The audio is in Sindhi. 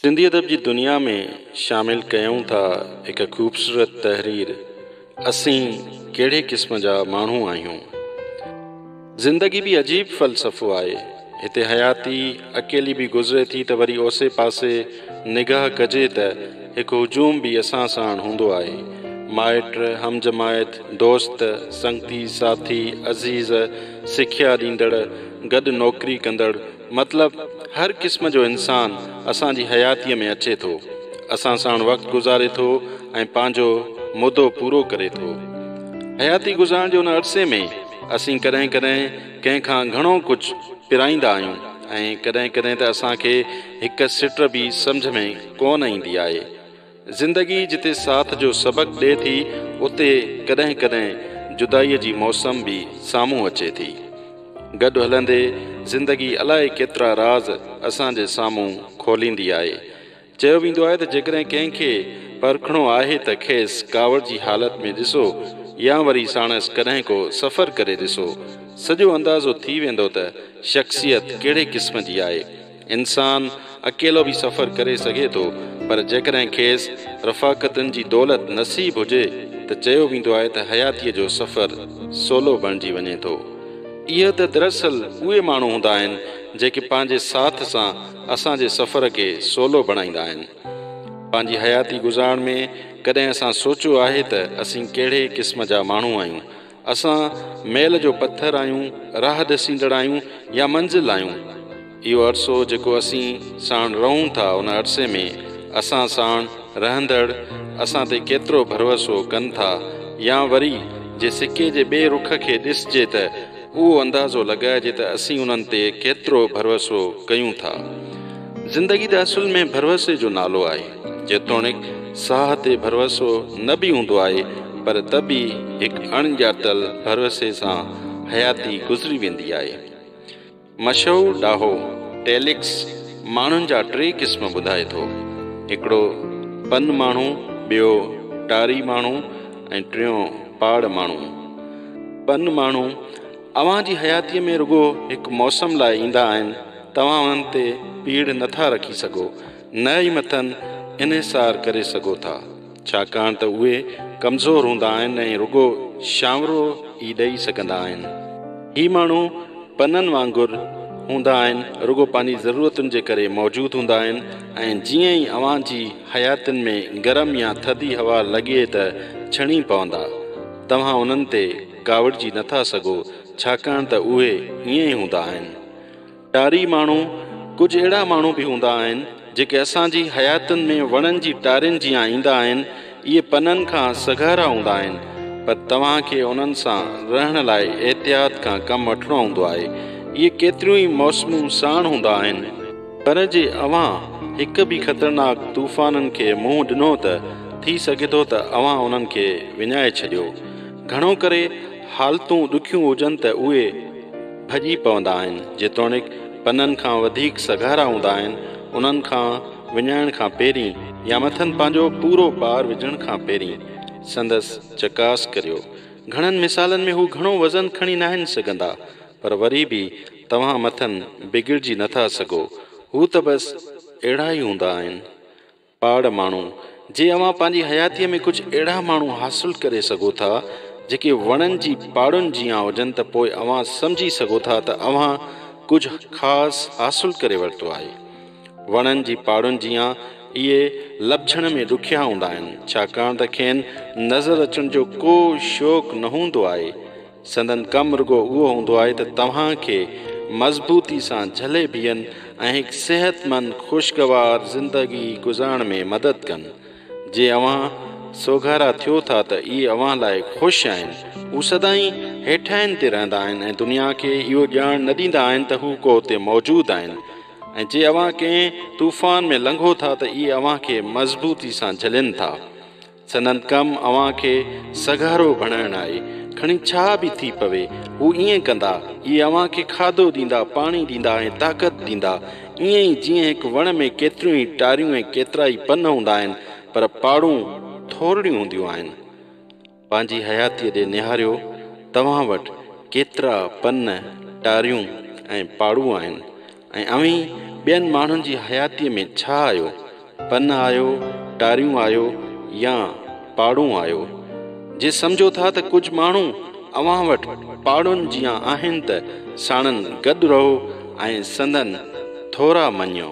سنڌي ادب جي دنيا ۾ شامل ڪيون ٿا هڪ خوبصورت تحرير اسين ڪهڙي قسم جا ماڻهو آهيون. زندگي به عجيب فلسفو آهي. هتي حياتي اڪيلي به گذري ٿي ته وري اوسي پاسي نگاهه ڪجي ته هڪ هجوم به اسان ساڻ هوندو آهي. مائٽ، هم جماعت، دوست، سنگتي، ساٿي، عزيز، سکيا ڏيندڙ، گڏ نوڪري ڪندڙ، مطلب هر قسم جو انسان اسان جي حياتيء ۾ اچي ٿو، اسان ساڻ وقت گذاري ٿو ۽ پنهنجو مدو پورو ڪري ٿو. حياتي گذارڻ جي ان عرصي ۾ اسين ڪڏهن ڪڏهن ڪنهن کان گهڻو ڪجهه پرائيندا آهيون ۽ ڪڏهن ڪڏهن ته اسان کي هڪ سٽ به سمجهه ۾ ڪونه ايندي آهي. زندگي جتي ساٿ جو سبق ڏئي ٿي اتي ڪڏهن ڪڏهن جدائي جي موسم به سامهون اچي ٿي. گڏ هلندي زندگي الائي ڪيترا راز اسان جي سامهون کوليندي آهي. چيو ويندو آهي ته جيڪڏهن ڪنهن کي پرکڻو آهي ته کيس ڪاوڙ جي حالت ۾ ڏسو يا وري ساڻس ڪڏهن ڪو سفر ڪري ڏسو سڄو اندازو ٿي ويندو ته شخصيت ڪهڙي قسم جي آهي. انسان اڪيلو به سفر ڪري سگهي ٿو پر جيڪڏهن کيس رفاقتن جي دولت نصيب هجي ته چيو ويندو آهي ته حياتيء جو سفر سولو بڻجي وڃي ٿو. اهي ته دراصل اهي ماڻهو هوندا آهن جيڪي پنهنجي ساٿ سان اسان جي سفر کي سولو بڻائيندا آهن. پنهنجي حياتي گذارڻ ۾ ڪڏهن اسان سوچيو آهي ته اسين ڪهڙي قسم جا ماڻهو آهيون اسان ميل جو پٿر آهيون، راهه ڏسيندڙ آهيون يا منزل آهيون. اهو عرصو جيڪو اسين ساڻ رهون ٿا ان عرصي ۾ اسان ساڻ رهندڙ اسان تي ڪيترو ڀروسو ڪن ٿا يا وري جي سڪي جي ٻئي رخ کي ڏسجي ته اهو اندازو لڳائجي ته اسين انهن تي ڪيترو ڀروسو ڪيون ٿا. زندگي ته اصل ۾ ڀروسي جو نالو آهي، جيتوڻيڪ ساهه تي ڀروسو نه به هوندو آهي پر ته به هڪ اڻ ڄاتل ڀروسي سان حياتي گذري ويندي آهي. مشهور ڏاهو ٽيليڪس ماڻهن جا ٽي قسم ٻڌائي ٿو، هڪڙو پن ماڻهو، ٻيو ٽاري ماڻهو ۽ ٽيون پاڙ ماڻهو. پن ماڻهو، اوهان جي حياتيء ۾ رڳو هڪ موسم لاء ايندا آهن، توهان انهن تي پيڙهه نه ٿا رکي سگهو، نه ئي مٿن انحصار ڪري سگهو ٿا، ڇاڪاڻ ته اهي ڪمزور هوندا آهن ۽ رڳو شانورو ئي ڏئي سگهندا آهن. هي ماڻهو پنن وانگر هوندا آهن، رڳو پنهنجي ضرورتن جي ڪري موجود هوندا آهن ۽ جيئن ئي اوهان جي حياتين ۾ گرم يا ٿڌي هوا لڳي ته ڇڻي پوندا، توهان انهن تي. ڪاوڙجي نه ٿا سگهو، ڇاڪاڻ ته اهي ائين ئي هوندا آهن. ٽاري ماڻهو، ڪجهه اهڙا ماڻهو به هوندا آهن، جيڪي اسان جي حياتين ۾ وڻن جي ٽارين جيان ايندا آهن، اهي پنن کان سگهارا هوندا آهن، پر توهان کي انهن سان رهڻ لاء احتياط کان ڪم وٺڻو هوندو آهي. اهي ڪيتريون ئي موسمون ساڻ هوندا آهن. پر جي اوهان هڪ به خطرناڪ طوفانن کي منهن ڏنو ته ٿي سگهي ٿو ته اوهان انهن کي وڃائي ڇڏيو. گهڻو ڪري حالتون ڏکيون هجن ته اهي ڀڄي پوندا آهن، جيتوڻيڪ پنن کان وڌيڪ سگهارا هوندا آهن، انهن کان وڃائڻ کان پهرين يا مٿن پنهنجو پورو بار وجهڻ کان پهرين سندس چڪاس ڪريو. گهڻن مثالن ۾ هو گهڻو وزن کڻي ناهن سگهندا، پر وري به توهان مٿن بگڙجي نٿا سگهو. هو ته بس اهڙا ئي هوندا آهن. پاڙ ماڻهو، جي اوهان پنهنجي حياتيء ۾ ڪجهه اهڙا ماڻهو حاصل ڪري سگهو ٿا، جيڪي وڻن جي پاڙن جيان هجن ته پوء اوهان سمجهي سگهو ٿا ته اوهان ڪجهه خاص حاصل ڪري ورتو آهي. وڻن جي پاڙن جيان اهي لڀجڻ ۾ ڏکيا هوندا آهن، ڇاڪاڻ ته کين نظر اچڻ جو ڪو شوق نه هوندو آهي. سندن ڪم رڳو اهو هوندو آهي ته توهان کي مضبوطي سان جهلي بيهن ۽ هڪ صحتمند خوشگوار زندگي گذارڻ ۾ مدد ڪن. جي اوهان سوگهارا ٿيو ٿا ته اهي اوهان لاء خوش آهن. هو سدائين هيٺاهين تي رهندا آهن ۽ دنيا کي اهو ڄاڻ نه ڏيندا آهن ته هو ڪو اتي موجود آهن ۽ جي اوهان ڪنهن طوفان ۾ لنگهو ٿا ته اهي اوهان کي مضبوطي سان جهلين ٿا. سندن ڪم اوهان کي سگهارو بڻائڻ آهي، کڻي ڇا به ٿي پوي، هو ائين ڪندا. اهي اوهان کي کاڌو ڏيندا، پاڻي ڏيندا ۽ طاقت ڏيندا. ائين ئي جيئن هڪ وڻ ۾ ڪيتريون ئي ٽاريون ۽ ڪيترا ئي پن هوندا آهن، پر پاڙون ٿورڙيون هونديون آهن. پنهنجي حياتيء ڏي نهاريو، توهان وٽ ڪيترا پن، ٽاريون ۽ پاڙون آهن؟ ۽ اوهين ٻين ماڻهن جي حياتيء ۾ ڇا آهيو؟ پن آهيو، ٽاريون آهيو يا پاڙون آهيو؟ جي سمجهو ٿا ته ڪجهه ماڻهو اوهان وٽ پاڙن جيان آهن ته ساڻن گڏ رهو ۽ سندن ٿورا مڃيو.